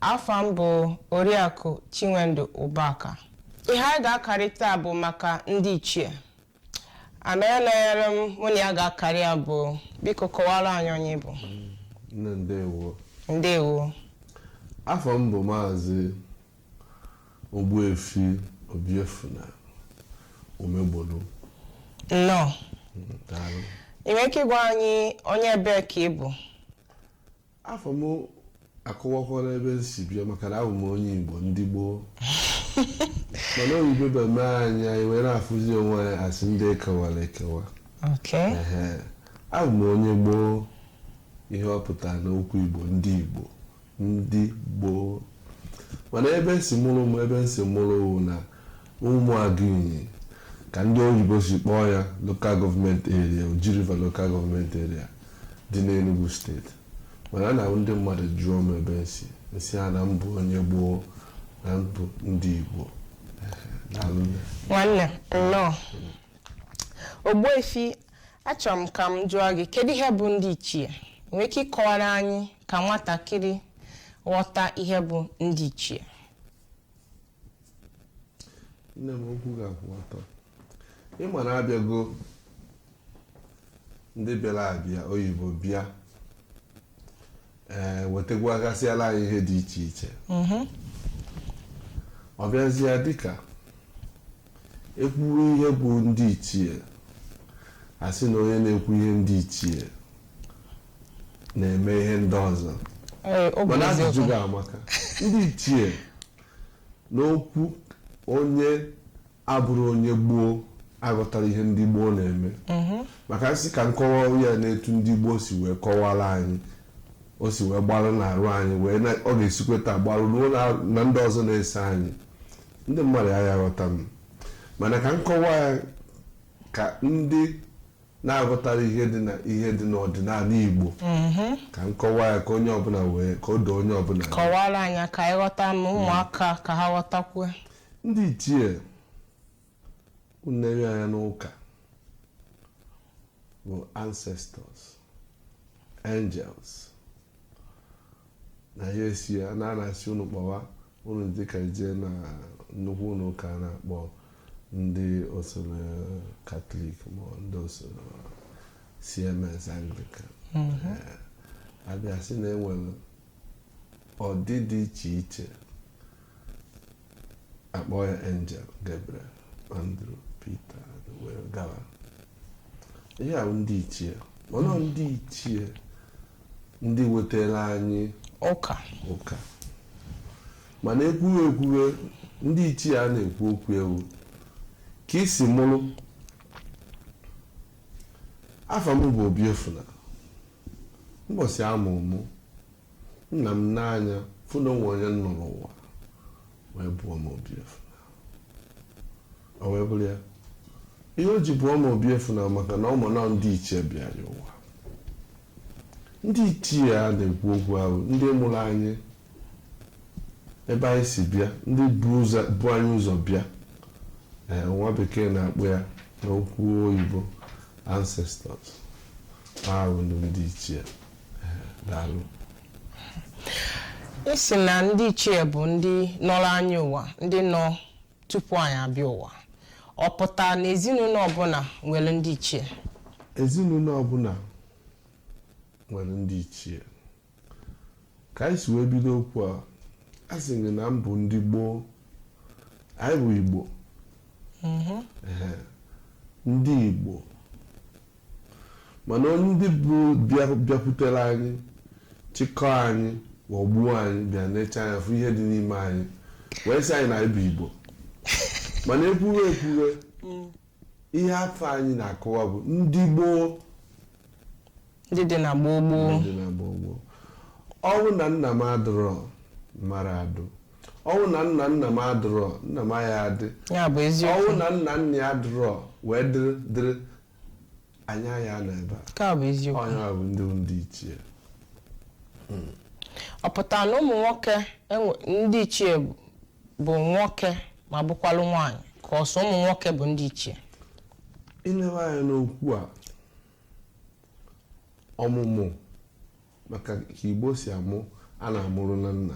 Afa m bụ Oriakụ Chinwendu Ubaka. Ihe anyị ga-akarị taa bụ maka ndị ichie. Onye nọnyere m mụ na ya ga-akarị ya bụ biko kọwara anyị onye ị bụ. Nne ndewo. Ndewo. Afa m bụ Maazị Ogbuefi Obiefuna Umegbolu. Nnọọ. Daalụ. Ị nwere ike ịgwa anyị onye ebee ka ị bụ? afa m akọwakwara ebe m si bịa maka na abụ m onye Igbo ndị gboo mana oyibo bịa mee anyị anyị wee na-afụzi onwe anyị asị ndị ekewara ekewa Okay. Ehe. abụ m onye gboo ihe ọ pụtara n'okwu Igbo ndị Igbo ndị gboo mana ebe si mụrụ m ebe m si mụrụ wụ na Umuagu Inyi ka ndị oyibo si kpọọ ya Local Government Area, Oji River Local Government Area dị n'Enugwu Steeti. Mana ọ na-abụ ndị mmadụ jụọ m ebe m si, m sị ha na m bụ onye gboo, na m bụ ndị Igbo. Ehe, daalụ nne. Nwanne, nnọọ. Ogbuefi, achọrọ m ka m jụọ gị, kedu ihe bụ ndị ichie? I nwere ike ịkọwara anyị ka nwatakịrị ghọta ihe bụ ndị ichie? nne m okwu ga-akwụ ọtọ ịma na abịago ndị bịara abịa oyibo bịa ee wetegwagasịala anyị ihe dị iche iche ọ bịazie dịka ekwuwe ihe bụ ndị ichie asị na onye na-ekwu ihe ndị ichie na-eme ihe ndị ọzọ Ee, ọ bụ mana ajụjụ eziokwu. gị a maka ndị ichie N'okwu onye abụrụ onye gboo aghọtara ihe ndị gboo na-eme mhm. maka m sị ka m kọwaa ya n'etu ndị gboo si wee kọwara anyị o si wee gbarụ n'arụ anyị wee ọ ga-esikwa etu a gbarụ ruo na ndị ọzọ na-eso anyị ndị mmadụ ya aghọta m mana ka m kọwaa ya ka ndị na-aghọtara ihe dị na ihe dị n'ọdịnala Igbo Mhm. ka m kọwaa ya ka onye ọbụla wee ka o doo onye ọbụla anya. kọwara anyị ka anyị ghọta na ụmụaka ka ha ghọtakwuo ndị ichie unu nee anya n'ụka bụ ancestors angels na ya esi ya na a na-asị unu kpọwa unu dịka ị jee na nnukwu ụlọ ụka a na-akpọ ndị osoro katọlik ma ọ ndị osoro cms anglican Eh, abịa sị na enwere ọdị dị iche iche akpọ ya angel gabriel andrew peter wee gawa ihe ahụ ndị ichie mana ọ ndị ichie ndị wetara anyị ụka ụka mana ekwube ekwube ndị ichie a na-ekwu okwu ya wụ ka e si mụrụ afa m bụ Obiefuna mbọsị a mụrụ mụ nna m nee anya fụ na o nwe onye nọrọ ụwa wee bụọ m Obiefuna o wee bụrụ ya ihe o ji bụọ m Obiefuna maka na ọ ma na ndị ichie bịara ụwa Ndị ichie a na-ekwu okwu ha wụ ndị mụrụ anyị ebe anyị si bịa ndị bu ụzọ bu anyị ụzọ bịa ee nwa bekee na-akpọ ya n'okwu oyibo ancestors ha bụ ndị ndị ichie Ee, daalụ ị sị na ndị ichie bụ ndị nọrọ anyị ụwa ndị nọ tupu anyị abịa ụwa ọ pụta na ezinụlọ ọbụla nwere ndị ichie ezinụlọ ọbụla nwere ndị ichie ka anyị si wee bido okwu a a sị gị na mbụ ndị gboo anyị bụ igbo mhm. ndị igbo Mana ndị bụ bịakwutere anyị, chịkọọ anyị, ghọgbuo anyị, bịa necha anya fụ ihe dị n'ime anyị, wee sị anyị na anyị bụ Igbo. Mana ekwube ekwube, ihe afa anyị na-akọwa bụ ndị gboo ndị dị na gboo gboo dị na gboo gboo. Ọ wụ na nna m adịrọ mara adụ. Ọ wụ na nna nna m adịrọ nna m aya adị. ya bụ Ọ wụ eziokwu na nna nna ya adịrọ wee dịrị dịrị anyị aya nọ ebe a nke a bụ eziokwu ọ nya bụ ndị bụ ndị ichie ọ pụtara na ụmụ nwoke enwe- ndị ichie bụ- bụ nwoke ma bụkwalụ nwaanyị ka ọ sọ ụmụ nwoke bụ ndị ichie i nebe anya n'okwu a ọmụmụ maka ka igbo si amụ a na-amụrụ na nna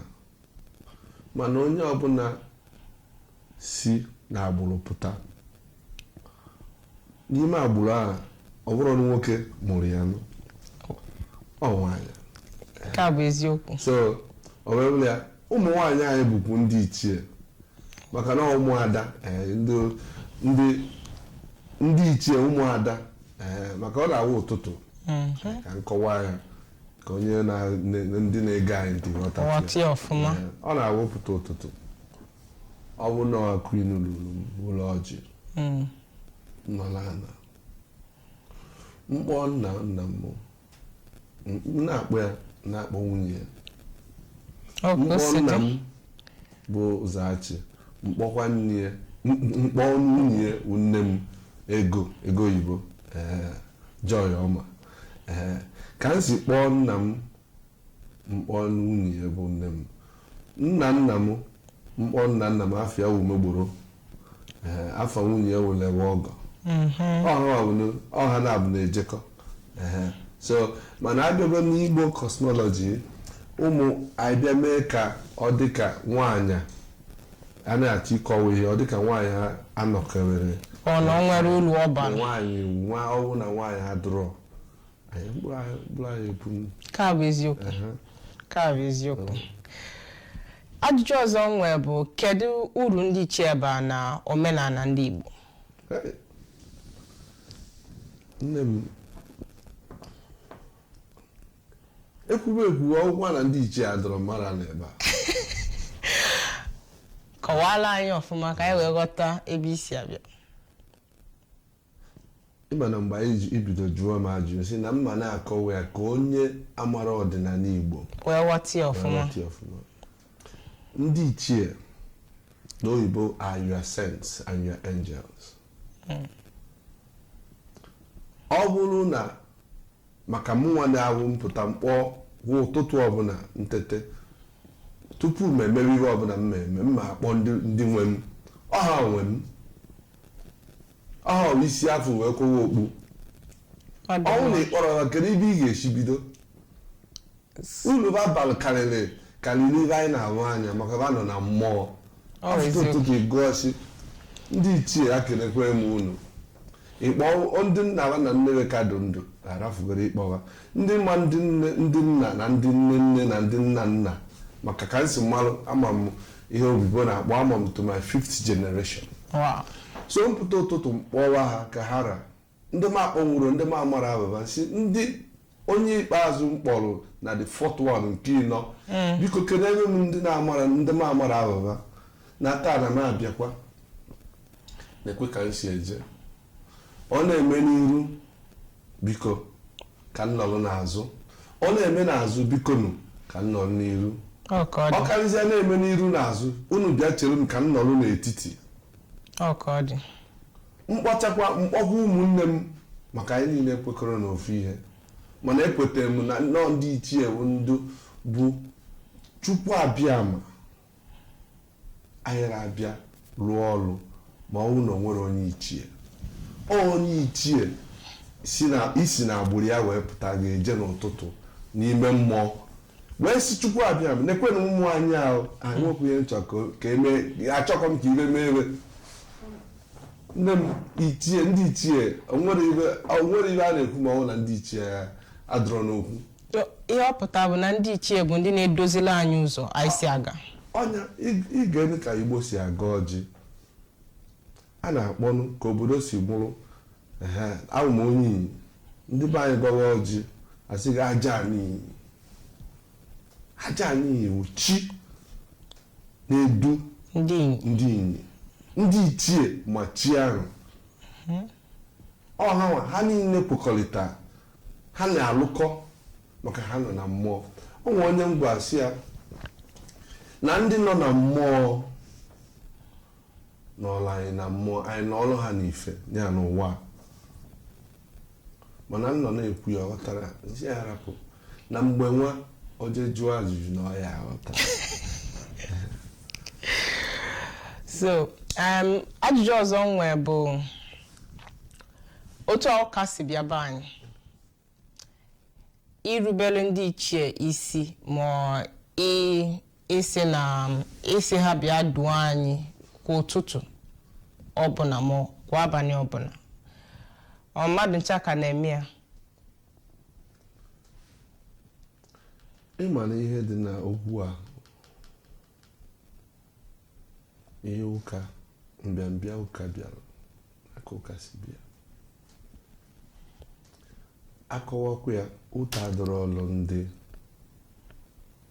mana onye ọbụla si na agbụrụ pụta n'ime agbụrụ ahụ ọ bụrọ nụ nwoke mụrụ ya nụ ọ nwaanyị nke a bụ eziokwu so o wee bụrụ ya ụmụ nwaanyị anyị bụkwu ndị ichie maka na ụmụada eh, ndị ichie ụmụada eh, maka ọ na-awụ ụtụtụ mm-hmm. ka m kọwaa ya ka onye na ndị na-ege anyị ntị ghọta eh, ọ na-awụpụta ụtụtụ ọ bụ na queen lụrụ ụlọ ọjị mm. nọla ana m kpọọ nna nna m na-akpọ ya na-akpọ nwunye ya m kpọọ nna m bụ ụzọachị m kpọkwa nne ya m kpọọ nwunye ya bụ nne m ego ego oyibo joy ọma ka m si kpọọ nna m m kpọọ nwunye ya bụ nne m nna nna m m kpọọ nna nna m afa ya wụ umegboro Eh, afa nwunye ya wụla ewe ọgọ mhm. ọ ha nabọ na-ejekọ eh, so mana a bịago n'igbo cosmology ụmụ anyị bịa mee ka ọ dịka nwaanyị a na-achọ ịkọwa ihe ọ dịka nwaanyị anọkewere ọ na o nwere ulu ọ bara nwaanyị a ọ wụ na nwaanyị adụrọ ka bụ eziokwu ka bụ eziokwu ajụjụ ọzọ m nwee bụ kedu uru ndị ichie bara n'omenala ndị Igbo nne m ekwuwe ekwuwe ọ wụkwa na ndị ichie adọrọ mara n'ebe a kọwaara anyị ọfụma ka anyị wee ghọta ebe i si abịa ị ma na mgbe anyị ji bido jụọ m ajụjụ sị na m ma na-akọwa ya ka onye amara ọdịnala Igbo wee ghọta ya ọfụma ghọta ya ọfụma. ndị ichie n'oyibo are your saints and your angels ọ bụrụ na maka mụnwa na-awụ m pụta m kpọọ kwa ụtụtụ ọbụla m tete tupu m emewe ihe ọbụla m na-eme m ma akpọ ndị ndị nwe m ọha nwe m ọha i si afọ wee kụwa okpu Ọ dị ọ wụ na mma. ị kpọrọ ba kedu ebe ị ga-esi bido ulu ba bara karịrị karịrị ihe anyị na-ahụ anya maka ba nọ na mmụọ Ọ bụ a fụta eziokwu. ụtụtụ ị gọọ sị ndị ichie ekelekwa m unu ị kpọọ ndị nna ha na nne ka dị ndụ arafugoro ị kpọwa ndị ma ndị nne ndị nna na ndị nne nne na ndị nna nna maka ka m si malụ ama m ihe oyibo na-akpọ ama m to my fifth generation so m pụta ụtụtụ m kpọwa ha ka ha ra ndị m akpọnwurọ ndị m amara afa ba sị ndị onye ikpeazụ m kpọrọ na the fourth one nke ịnọ mm. biko keneere m ndị m amara afa ba na taa na m abịakwa nekwa ka m si eje ọ na-eme n'iru biko ka m nọrọ n'azụ ọ na-eme n'azụ biko nụ ka m nọrọ n'iru Ọ ka ọ ọ dị. karịzie na-eme n'iru n'azụ unu bịa chere m ka m nọrọ n'etiti Ọ ka ọ dị. m kpọchakwa m kpọkwa ụmụnne m maka anyị niile kwekọrọ n'ofu ihe mana ekwetara m na nnọọ ndị ichie bụ ndụ bụ chukwu abịama anyị na-abịa rụọ ọrụ ma ọ bụrụ na o nwere onye ichie onye ichie i si na agbụrụ ya wee pụta gị ejee n'ụtụtụ n'ime mmụọ wee sị chukwu abịama nekwenụ ụmụ anyị ahụ anyị nwepụ ihe nchọ ka- ka eme achọkọ m ka ibe mee ebe nne m ichie ndị ichie o nwere ibe o nwere ibe a na-ekwu ma ọ bụ na ndị ichie adịrọ n'okwu ihe ọ pụta bụ na ndị ichie bụ ndị na-edozila anyị ụzọ anyị si aga ọ nya ị ga-ele ka igbo si agọ ọjị a na-akpọnụ ka obodo si bụrụ awụ m onye inyi ndị be anyị gọwa ọjị a sị gị aja ani inyi aja ani inyi wụ chi na-edu ndị inyi ndị ichie ma chi ahụ ọha ha niile kwekọrịta ha na-alụkọ maka ha nọ na mmụọ o nwere onye m gwara sị ya na ndị nọ na mmụọ nọlụ anyị na mmụọ anyị nọlụ ha n'ife ya n'ụwa a. mana m nọ na-ekwu ya ọ ghọtara m sị ya rapụ na mgbe nwa o jee jụọ ajụjụ na ọ ya aghọta so um, ajụjụ ọzọ m nwee bụ otu ụka si bịa be anyị irubere ndị ichie isi ma ị- ị sị na ị sị ha bịa duo anyị kwa ụtụtụ ọbụla ma kwa abalị ọbụla ọ mmadụ ncha ka na-eme ya ị ma na ihe dị na okwu a ihe ụka mbịambịa ụka bịara aka ụka si bịa a kọwakwa ya ụta adịrọlụ ndị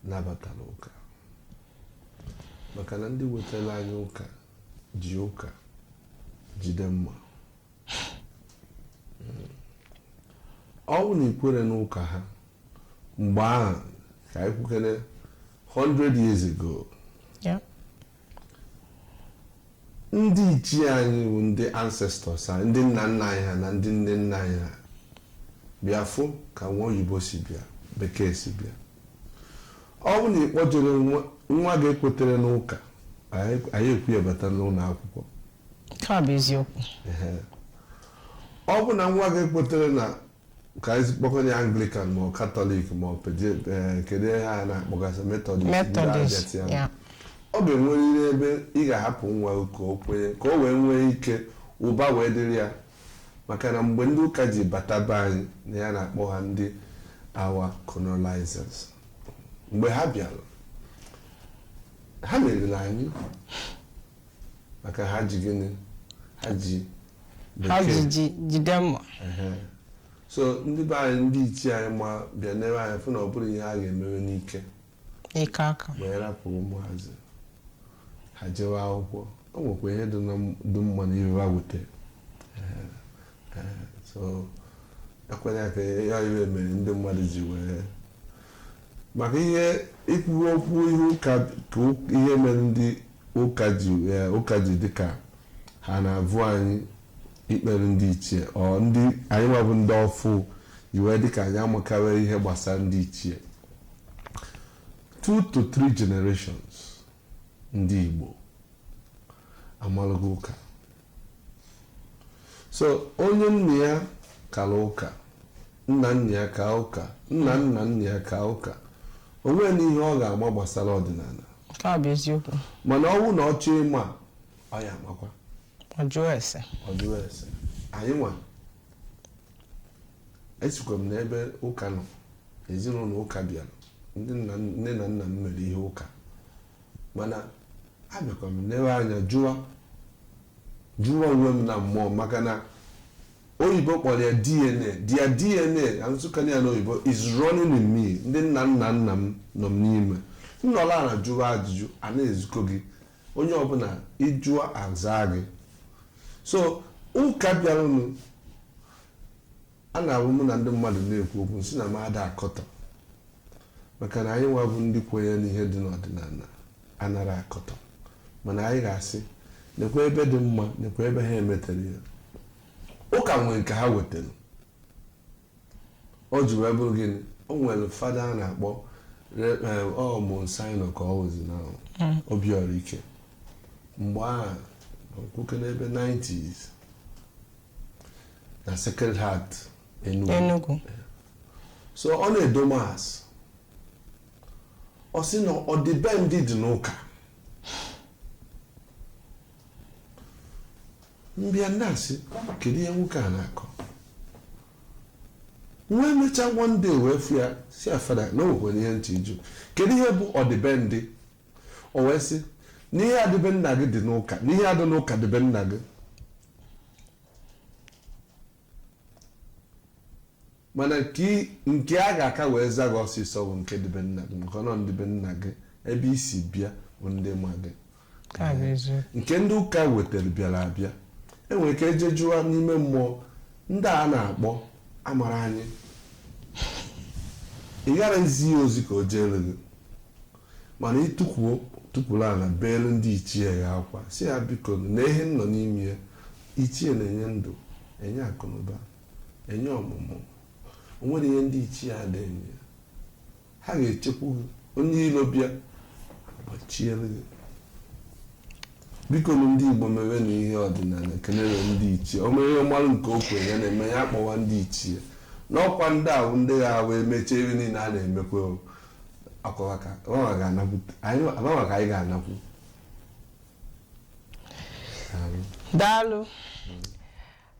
nabatara ụka maka na ndị wetara anyị ụka ji ụka jide mma ọ bụ na i kwere n'ụka ha mgbe ahụ ka anyị kwukene 100 years ago ndị ichie anyị bụ ndị ancestors anyị ndị nna nna anyị ha na ndị nne nna anyị ha bịa fụ ka nwa oyibo si bịa bekee si bịa ọ bụ na ị kpọjere nwa gị ekwetere n'ụka a ya-ekwe ya bata n'ụlọ akwụkwọ Nke a bụ eziokwu. Ọ bụ na nwa ga-ekwetere na ka anyị kpọkọ ya Anglican ma ọ Katọlik ma ọ peje eh, kedu ihe ha na-akpọgasị Metọdist ndị Methodist, Argentina. yeah. ọ ga-enwerịrị ebe ị ga-ahapụ nwa ka o kwenye ka o wee nwee ike ụba wee dịrị ya maka na mgbe ndị ụka ji bata be anyị na ya na-akpọ ha ndị our colonizers mgbe ha bịara ha meriri anyị maka ha ji gịnị ha ji ha ji egbe ji jide mma Ehe. so ndị be anyị ndị ichie anyị ma bịa newe anya fụ na ọ bụrọ ihe a ga-emewe n'ike n'ike aka wee rapụ ụmụazị ha jewe akwụkwọ o nwekwa ihe dị na m- dị mma n'ihe ha wute Ehe. Ehe. so ekwere ka ya ihe mere ndị mmadụ ji wee maka ihe ikwuwe okwu ihe ụka ka o- ihe mere ndị Ụka ji dị ka ha navụ anyị ikpere ndị ichie ọ ndị anyị nwa bụ ndị ọfụ ji wee dị ka anyị amakawa ihe gbasara ndị ichie two to three generations ndị Igbo amalụgo ụka so onye nna ya kara ụka nna nna ya ka ụka nna nna nna ya ka ụka o nwere ihe ọ ga-ama gbasara ọdịnala Nke a bụ eziokwu. mana ọ wụ na ọ chọọ ịma ọ ya-amakwa Ọ jụọ ese. ọ jụrụ ese anyị nwa esikwa m n'ebe ụka nọ ezinụlọ ụka bịara ndị nna nne na nna m mere ihe ụka mana abịakwa m lewe anya jụwa jụwa onwe m na mmụọ maka na oyibo kpọrọ ya DNA their DNA asụkana ya n'oyibo is running in me ndị nna nna nna m nọ m n'ime nnọla ala jụwa ajụjụ a na-ezikọ gị onye ọbụla ị jụọ azaa gị so ụka bịaranụ Ọ na-awụ mụ na ndị mmadụ na-ekwu okwu m sị na m ada akọtọ maka na anyị nwa bụ ndị kwenye n'ihe dị n'ọdịnala anara akọtọ mana anyị ga-asị nekwa ebe dị mma nekwa ebe ha emetere ya ụka nwee nke ha wetara o ji wee bụrụ gịnị o nwere fada a na-akpọ Monsignor ka ọ wụzi na Obiọra Ike mgbe ahụ nwoke n'ebe 90s na Sacred Heart Enugu so ọ na-edo mass ọ sị na ọdịbendị dị n'ụka m bịa na-asị kedu ihe nwoke a na-akọ nwa emechaa one day wee fụ ya sị ya fada na o nwekwere ihe m chọ ịjụ kedu ihe bụ ọdịbendị o wee sị na ihe a dị be nna gị dị n'ụka na ihe a dị n'ụka dị be nna gị mana nke a ga-aka wee za gị ọsịsọ bụ nke dị be nna gị maka na ọ ndị be nna gị ebe i si bịa bụ ndị ma gị nke ndị ụka wetara bịara abịa enwere ike eje jụọ n'ime mmụọ ndị a na-akpọ amara anyị ị gara ezi ya ozi ka o jeere gị Mana i tukwuo tukwuru ala beere ndị ichie ya akwa, sị ha bikonu, nee ihe m nọ n'ime ya. Ichie na-enye ndụ, enye akụnụba, enye ọmụmụ. O nwere ihe ndị ichie ada enye. Ha ga-echekwu gị. Onye iro bịa, ha gbachiere gị. Bikonu ndị Igbo mewenụ ihe ọdịnala, kelere ndị ichie. O nwere ihe mmalụ nke o kwere ya na-eme, ya kpọwa ndị ichie. N'ọkwa ndị ahụ ndị ga-awa emechie ihe niile a na-emekwe o. akọwa ka anyị ga-anakwu Daalụ.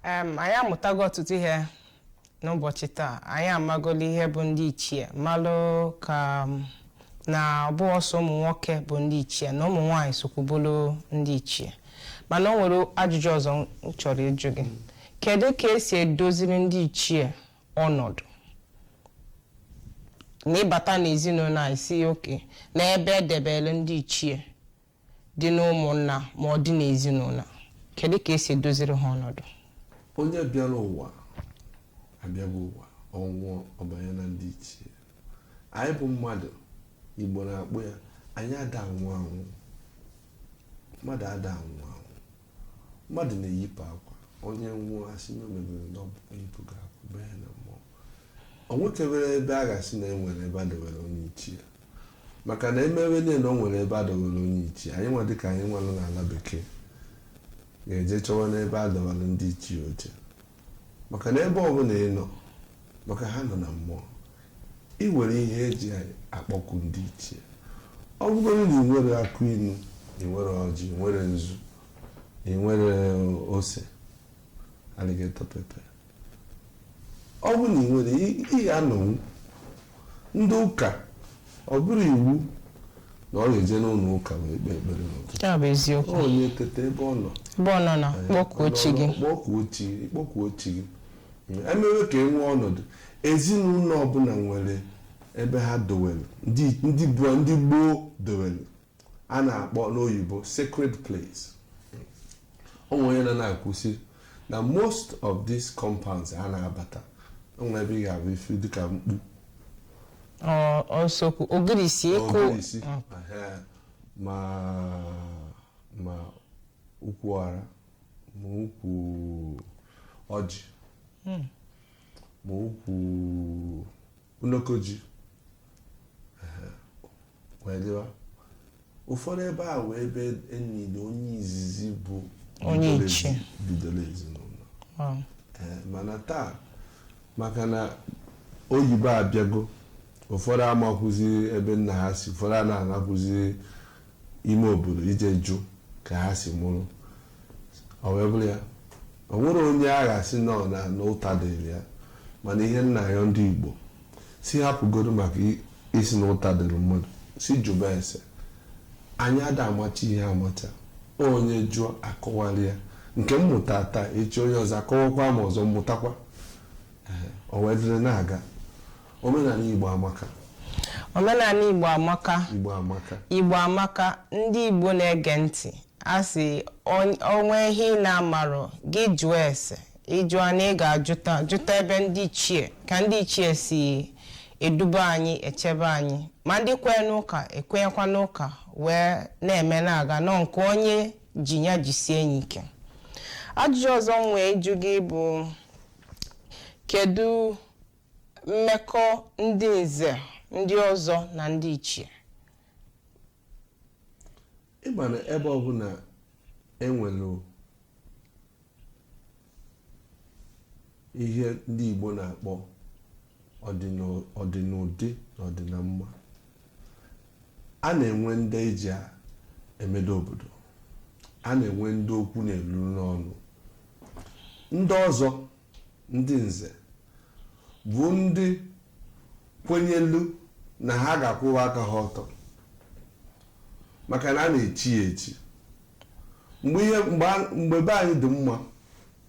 Em, anyị amụtago ọtụtụ ihe n'ụbọchị taa anyị amagolo ihe bụ ndị ichie malụkwa na ọ bụhọ sọ ụmụ nwoke bụ ndị ichie na ụmụ nwaanyị sokwu bụlụ ndị ichie mana o nwere ajụjụ ọzọ m chọrọ ịjụ gị kedu ka e si edoziri ndị ichie ọnọdụ na ịbata n'ezinụlọ a ị sị okay n'ebe edebere ndị ichie dị n'ụmụnna ma ọ dị n'ezinụlọ kedu ka e si edoziri ha ọnọdụ onye bịara ụwa abịago ụwa ọ nwụọ ọ banye na ndị ichie anyị bụ mmadụ Igbo na-akpọ ya anyị ada anwụ anwụ mmadụ ada anwụ mmadụ na-eyipụ akwa onye nwụọ a sị na o mebere na o yipụgo akwa banye na mmụọ o nwekebere ebe a ga-asị na enwere ebe a dowere onye ichie maka na emewe niile na o nwere ebe a dowere onye ichie anyị nwa dịka anyị nwanụ n'ala bekee ga-eje chọwa n'ebe a dọwara ndị ichie oche maka na ebe ọbụla ị nọ maka ha nọ na mmụọ ị nwere ihe eji akpọku ndị ichie ọ bụgoro na ị nwere akụ inu ị nwere ọjị ị nwere nzu ị nwere ose alligator pepper ọ bụ na ị nwere ihe anọ nwụ ndị ụka ọ bụrọ iwu na ọ ga-eje n'ụlọ ụka wee kpee ekpere n'ụtụtụ ya bụ eziokwu onye teta ebe ọ nọ ebe ọ nọ na kpọkuo chi gị kpọkuo chi gị kpọkuo chi gị emewe ka e nwee ọnọdụ ezinụlọ ọbụla nwere ebe ha dowere ndị gboo dowere a na-akpọ n'oyibo sacred place o nwere onye na na-akwụsị na most of these compounds a na-abata o nwere ebe ị ga-afụ ife dịka mkpu Ọ- ọ eziokwu ogirisi ukwu ogirisi ehe, ma ma ukwu ara ma ukwu ọjị ma ukwu unokoji wee dịwa ụfọdụ ebe ahụ bụ ebe e nili onye izizi bụ Onye bidoro ichie. ezi- bidoro ezinụlọ Wow. Ee, mana taa maka na oyibo abịago ụfọdụ amakwụzi ebe nna ha si ụfọdụ a na-anakwụzi ime obodo ije jụ ka ha si mụrụ ọ wee bụrụ ya o nwerọ onye a ga-asị nnọọ na na ụta dịrị ya mana ihe m na-ayọ ndị Igbo sị hapụgodu maka ị- ịsị na ụta dịrị mmadụ sị jụba ese anyị ada amacha ihe amacha onye jụọ akọwara ya nke m mụta taa echi onye ọzọ akọwakwa ma ọzọ m mụtakwa Ee, o wee dịrị na-aga omenala Igbo amaka omenala Igbo amaka Igbo amaka Igbo amaka ndị Igbo na-ege ntị a sị o nwee ihe ị na-amarọ gị jụọ ese ị jụọ na ị ga-ajụta jụta ebe ndị ichie ka ndị ichie si eduba anyị echebe anyị ma ndị kwee n'ụka ekwenyekwa n'ụka wee na-eme na-aga nọ nke onye ji ya jisie ya ike ajụjụ ọzọ m nwere ịjụ gị bụ kedu mmekọ ndị nze ndị ọzọ na ndị ichie ị ma na ebe ọbụla e nwere ihe ndị Igbo na-akpọ ọdịna- ọdịnụdị na ọdịnamma a na-enwe ndị eji a- emedo obodo a na-enwe ndị okwu na-eru n'ọnụ ndị ọzọ Ndị nze bụ ndị kwenyelu na ha ga-akwụwa aka ha ọtọ maka na a na-echi ya echi mgbe ihe mgbe a- mgbe be anyị dị mma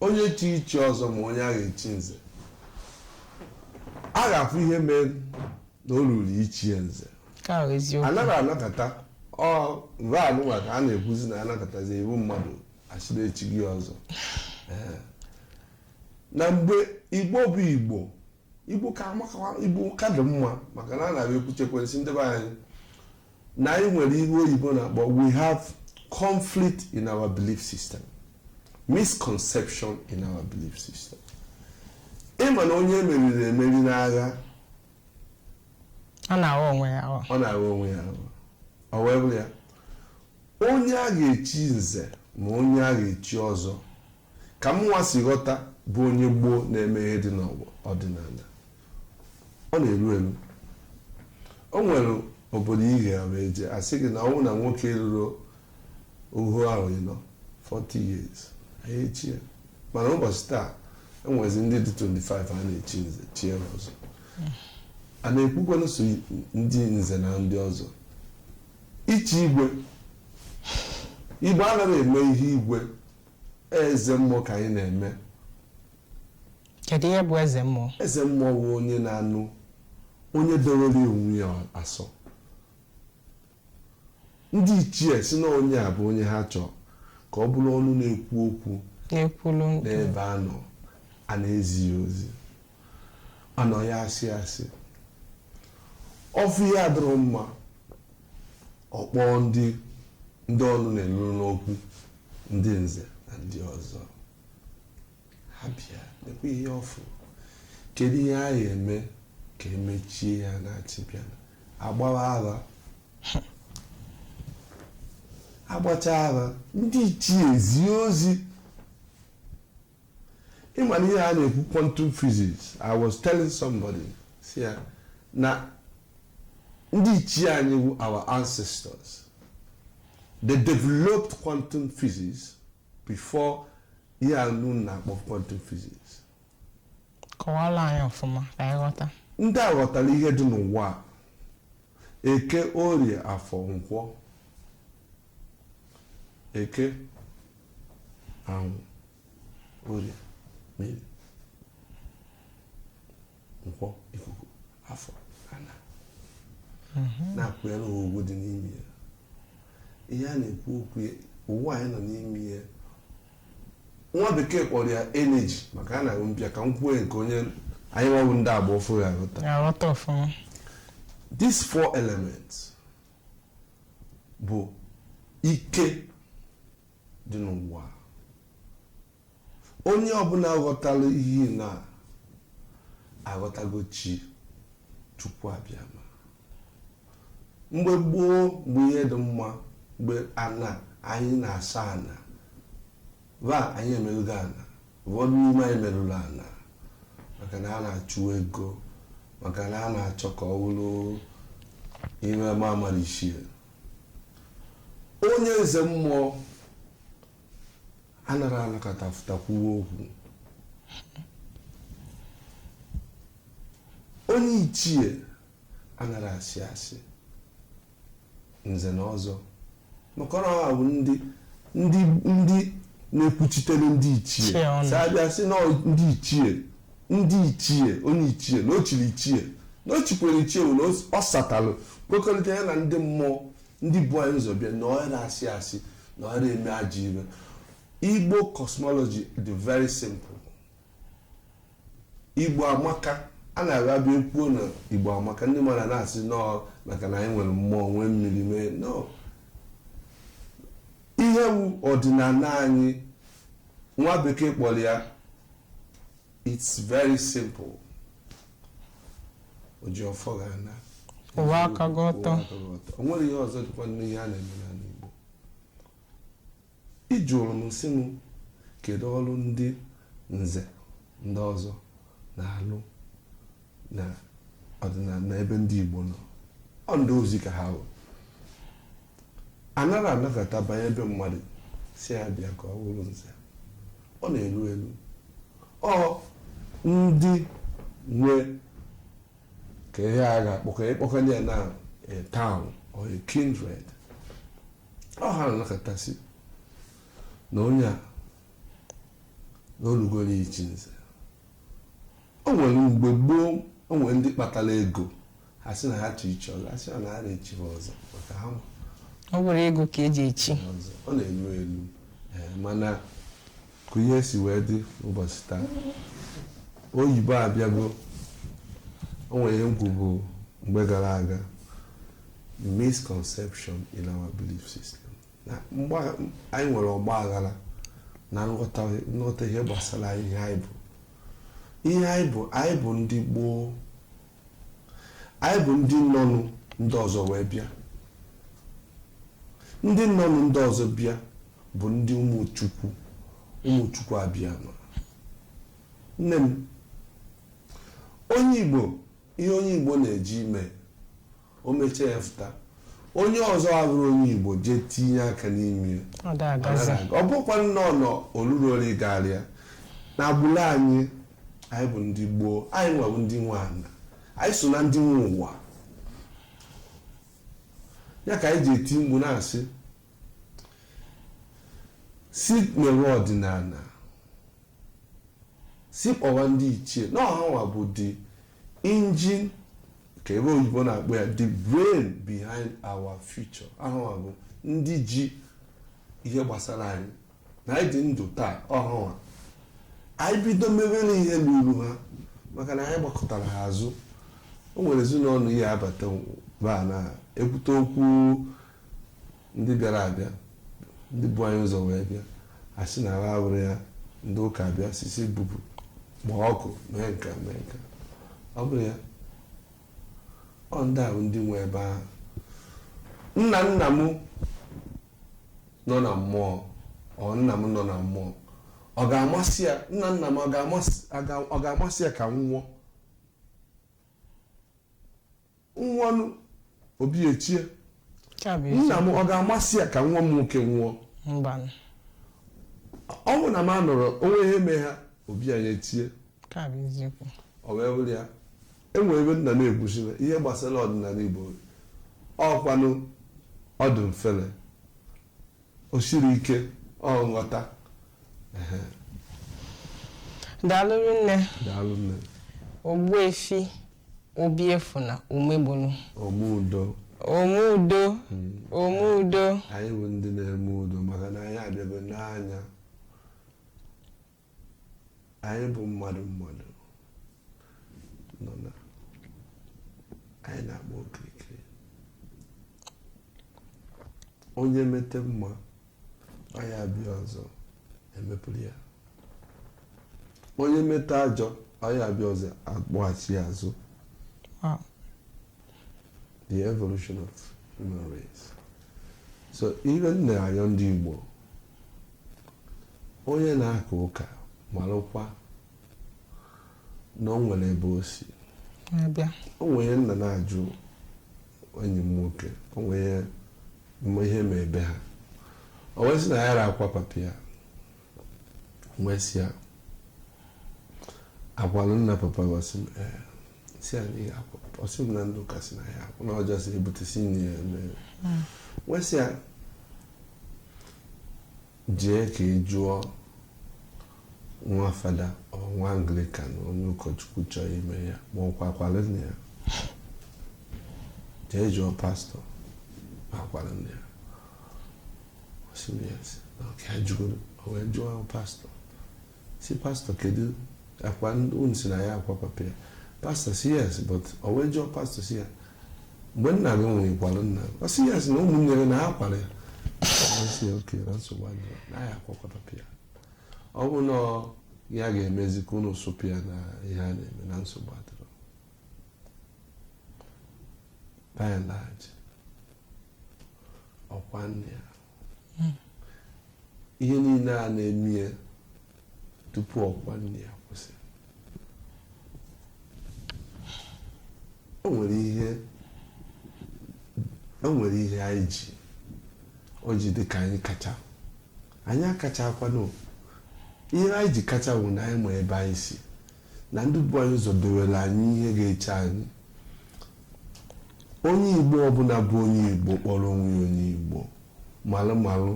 onye chi ichi ọzọ ma onye a ga-echi nze a ga-afụ ihe mere na o ruru ichi ya nze nke ahụ eziokwu anaghị anọkata ọ mgbe anụnwa ka a na-ekwuzi na anọkatazi ibu mmadụ asịrị echie gị ọzọ Ee. na mgbe igbo bụ igbo igbo ka amakawa igbo ka dị mma maka na a na-abịa ekwuchekwe m sị ndị be anyị na anyị nwere ihe oyibo na-akpọ we have conflict in our belief system misconception in our belief system ịma na onye e meriri emeri n'agha ọ na-aghọ onwe ya aghọ ọ na-aghọ onwe ya aghụghọ. ọ wee bụrụ ya Onye a ga-echi nze ma onye a ga-echi ọzọ, ka mụnwa si ghọta bụ onye gboo na-eme ihe dị n'ọdịnala, ọ na-eru eru. O nwere obodo ị ga wee jee, a sị gị na ọ bụrụ na nwoke eruro ohu ahọ ịnọ, 40 years, anaghị echi ya. Mana ụbọchị taa, e nwezi ndị dị 25 a na-echi nze, chie ha ọzọ. A na-ekwukwanụ sọ ndị nze na ndị ọzọ. Ichi igwe. Igbo anaghị eme ihe igwe. Eze mmụọ ka anyị na-eme. Kedu ihe bụ eze mmụọ? Eze mmụọ bụ onye na-anụ onye dowere onwe ya asọ. Ndị ichie si na onye a bụ onye ha chọọ ka ọ bụrụ ọnụ na-ekwu okwu n'ebe ha nọ a na-ezi ya ozi anaghị asị asị ọ fụ ihe adịrọ mma ọ kpọọ ndị ndị ọnụ na-eru n'okwu ndị nze na ndị ọzọ ha bịa nekwa ihe ọ fụrụ kedu ihe a ga-eme ka e mechie ya na-achị bịa agbawa aha agbacha aha ndị ichie ezie ozi ịma na ihe a na-ekwu quantum physics I was telling somebody si ya na ndị ichie anyị wu our ancestors they developed quantum physics before ihe a ụnụ na-akpọ quantum physics kọwara anyị ọfụma ka anyị ghọta ndị a ghọtara ihe dị n'ụwa a, eke orie afọ nkwọ eke anwụ orie mmiri nkwọ ikuku afọ ana mhm. na-akwanyere ha ugwu dị n'ime ya ihe a na-ekwu okwu ụwa anyị nọ n'ime ya nwa bekee kpọrọ ya energy maka ọ na-abụ m bịa ka m kwuo nke onye anyị nwa bụ ndị agba ọfụụ ya-aghọta these four elements bụ ike dị n'ụwa onye ọbụla ghọtara ihe na aghọtago chi chukwu abịama mgbe gboo mgbe ihe dị mma mgbe ana anyị na-asọ ana but anyị emelụgo ana Ụfọdụ n'ime anyị merụrụ ana maka na a na-achụ ego maka na a na-achọ ka ọ bụrụ ihe ama ama ichie onye nze mmụọ anara anọkata fụta kwuwe okwu onye ichie anara asị asị nze na ọzọ maka na ọ ha bụ ndị ndị ndị na-ekwuchitere ndị ichie so a bịa sị na ọ- ndị ichie ndị ichie onye ichie na o chiri ichie na o chikwere ichie wụ na o s- ọ satalụ kwekọrịta ya na ndị mmụọ ndị bu anyị ụzọ bịa na ọ yara asị asị na ọ yara eme ajọ ihe igbo cosmology dị very simple Igbo amaka a na-abịa ekwuo na Igbo amaka ndị mmadụ na-asị na ọ maka na anyị nwere mmụọ nwee mmiri mee no ihe wụ ọdịnana anyị nwa bekee kpọrọ ya it's very simple oji ọfọ ga-ana kwụwa aka gị ọtọ o nwere ihe ọzọ dịkwa n'ihe a na-eme n'ana Igbo Ị jụrụ m sị m kedu ọlụ ndị nze ndị ọzọ na-alụ na ọdịnana na ebe ndị Igbo nọ ọ ndị ozi ka ha bụ anara anọkata banye be mmadụ sị ya bịa ka ọ bụrụ nze ọ na-elu elu ọ ndị nwe ka ihe a ga-akpọkọ ịkpọkanye ya na a town or a kindred ọ ha na-anọkata sị na onye a na o lugo onye ichi nze o nwere mgbe gboo o nwere ndị kpatara ego ha sị na ha chọ ichi ọzọ ha sị na ha yara echi ha ọzọ maka ha ma ọ bụrọ ego ka e ji echi ọzọ ọ na-elu elu Ee, mana ka ihe si wee dị ụbọchị taa oyibo abịago o nwere ihe m kwubu mgbe gara aga misconception in our belief system na anyị nwere ọgba aghara na nghọta ihe gbasara ihe anyị bụ ihe anyị bụ anyị bụ ndị gboo anyị bụ ndị nọnụ ndị ọzọ wee bịa ndị nọnụ ndị ọzọ bịa bụ ndị ụmụ chukwu ụmụ chukwu abịama nne m onye igbo ihe onye igbo na-eji ime o mechaa ya fụta onye ọzọ abụrọ onye igbo jee tinye aka n'ime ya ọ da agazi ọ bụkwa nnọọ nọ olulu ole garịa na agbụrụ anyị anyị bụ ndị gboo anyị nwa bụ ndị nwe ana anyị so na ndị nwe ụwa ya ka anyị ji eti mkpu na-asị si mewe ọdịnala si kpọwa ndị ichie na ọ ha nwa bụ the engine ka ebe oyibo na-akpọ ya the brain behind our future ọ ha nwa bụ ndị ji ihe gbasara anyị na anyị dị ndụ taa ọ ha nwa anyị bido mewere ihe n'uru ha maka na anyị gbakọtara ha azụ o nwere ezinụlọ ị ya-abata ba na ekwute okwu Ndị bịara abịa, ndị bu anyị ụzọ wee bịa, a sị na ha awụrụ ya ndị ụka abịa sị si bupụ kpọọ ọkụ mee nka mee nka ọ bụrụ ya ọ ndị ahụ ndị nwe ebe ahụ nna nna m nọ na mmụọ ọ nna m nọ na mmụọ ọ ga-amasị ya nna nna m ọ ga-amasị ya ka m nwụọ nwụọnụ obi echie Ya bụ ezi- nna m ọ ga-amasị ya ka nwa m nwoke nwụọ mbanụ. ọ bụ na m anọrọ o nwee ihe mee ha obi anyị echie Nke a bụ eziokwu. ọ wee wụrụ ya e nwere ebe nna na-ekwusiwe ihe gbasara ọdịnala igbo ọkwanụ ọ dụ mfele O siri ike nghọta. Ehe, daalụ nne Daalụ nne. Ogbuefi Obiefuna Umegbolu Ome udo. ome udo ome udo Anyị bụ ndị na-eme udo maka na anyị abịago n'anya. anyị bụ mmadụ mmadụ nọ na anyị na-agba okirikiri onye mete mma ọ ya-abịa ọzọ emepụrụ ya onye mete ajọ ọ ya-abịa ọzọ akpọghachi ya azụ Wow. the evolution of human race so ihe m na-ayọ ndị Igbo onye na-aka ụka malụkwa na o nwere ebe o si na-abịa o nwere nna na-ajụ enyi m nwoke o nwere ihe mee be ha o wee sị na ya ra akwa papa ya wee sị ya a kwalụ nna papa gị?" Ọ sị m "Ee." si ya n'ihe akwa ọ sị m na ndị ụka si na ya akwana ọjọọ si ebute si nne ya m wee sị ya jee ka ị jụọ nwa fada ọ nwa Anglican onye ụkọchukwu chọọ ime ya ma ọ kwakwara nne ya jee jụọ pastọ ma akwara nne ya ọ sị m yes na okay ya ajụgoro o wee jụọ pastọ si pastọ kedu kwanụ unu si na ya akwa papa ya pastọ si yes but o wee jụọ pastọ si ya mgbe nna gị nwụrụ ị kwalụ nna gị ọ si yes na ụmụnne gị na ha kwara ya si ya okay na nsogbu adịrọ na ya akwakwa papa ya ọ bụ na ya ga-emezi ka unu sụpụ ya na ihe a na-eme na nsogbu adịrọ by and large ọ kwaa nne ya ihe niile a na-eme ya tupu ọ kwaa nne ya kwụsị o nwere ihe o nwere ihe anyị ji o ji dị ka anyị kacha anyị akachakwanụ ihe anyị ji kacha bụ na anyị ma ebe anyị si na ndị bu anyị ụzọ dewere anyị ihe ga-eche anyị onye igbo ọbụla bụ onye igbo kpọrọ onwe ya onye igbo malụ malụ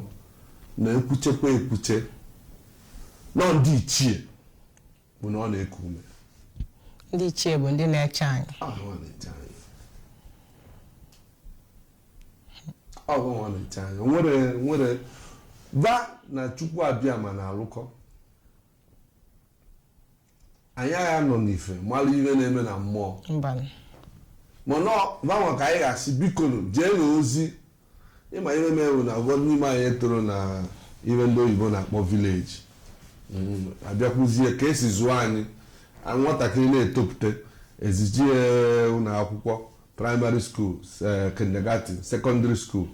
na ekwuchekwa ekwuche na ọ ndị ichie bụ na ọ na-eku ume ndị ichie bụ ndị na-eche anyị ha na-eche anyị ọ bụ ha na-eche anyị were were baa na chukwu abịama na-alụkọ anyị agha nọ n'ife mara ihe na-eme na mmụọ mbanụ mana gbanwe ka anyị ga-asị bikonu jee na ozi ị ma ihe mere wụ na ụfọdụ n'ime anyị etoro na ihe ndị oyibo na-akpọ village abịakwuzie ka e si zụọ anyị nwatakịrị na-etopụta e zije ya ụlọ akwụkwọ primary school eh, kindergarten secondary school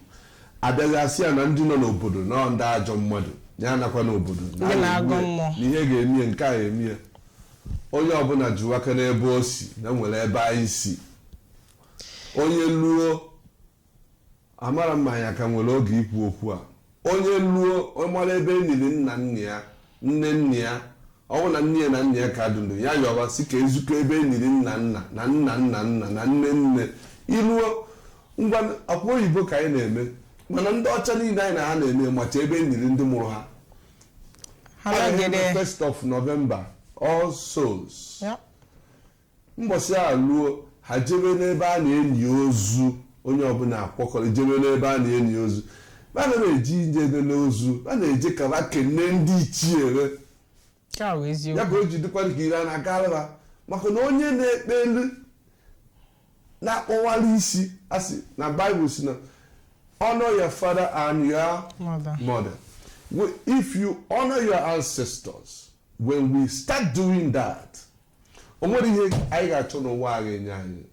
abịazie a sị ya na ndị nọ n'obodo na ndị ajọ mmadụ ya anakwana obodo na ihe ga-eme ya, nke a emee ya onye ọbụla jiwa aka n'ebe o si na nwere ebe anyị si onye luo Amarọ m ma anyị ka nwere oge ikwu okwu a. Onye luo, ọ mara ebe e niri nna nna ya, nne nna ya. Ọ bụ na nne ya na nna ya ka dị ndụ, ya yọwa si ka e zukọ ebe e niri nna nna na nna nna nna na nne nne. I luo, ngwanụ, ọ kwa oyibo ka anyị na-eme. Mana ndị ọcha niile anyị na ha na-eme macha ebe e niri ndị mụrụ ha. first of November, All Souls. Mbọsị ahụ luo, ha jebe n'ebe a na-eni ozu, onye ọbụla akwọkọrọ jebe n'ebe a na-eni ozu. Ba nara eji nje enene ozu, ba na-eje ka ba kene ndị ichie re. Nke a bụ Ya eziokwu. ka o ji dịkwa ka ire a na-agara ba maka na onye na-ekpe elu na-akpọwara isi asị na Bible si na honor your father and your Mother. mother. We- If you honor your ancestors, when we start doing that, o nwere ihe anyị ga-achọ n'ụwa a ga-enye anyị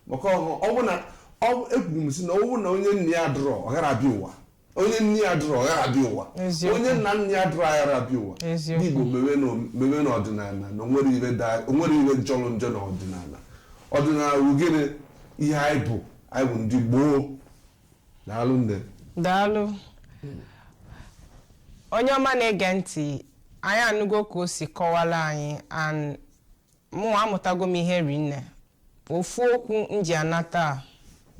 maka ọhụ ọ bụ na ọ- ekwuru m si na ọ bụ na onye nna ya dụrọ ọ gara abịa ụwa onye nne ya dụrọ ọ gara abịa ụwa Eziokwu. onye nna nna ya dụrọ agara abịa ụwa Eziokwu. ndị Igbo mewe n'o- mewe n'ọdịnala na o nwere ihe da- o nwere ihe jọrọ njọ n'ọdịnala ọdịnala bụ gịnị ihe anyị bụ anyị bụ ndị gboo Daalụ nne. Daalụ. Onye ọma na-ege ntị, anyị anụgo ka o si kọwara anyị and mụnwa amụtago m ihe rinne. Ofu okwu m ji anata a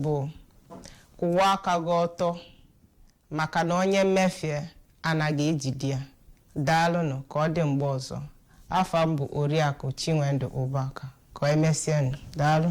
bụ kwụwa aka gị ọtọ maka na onye mmefie anaghị ejide ya daalụnụ ka ọ dị mgbe ọzọ afa m bụ Oriakụ Chinwendụ Ụbaka ka emesienụ daalụ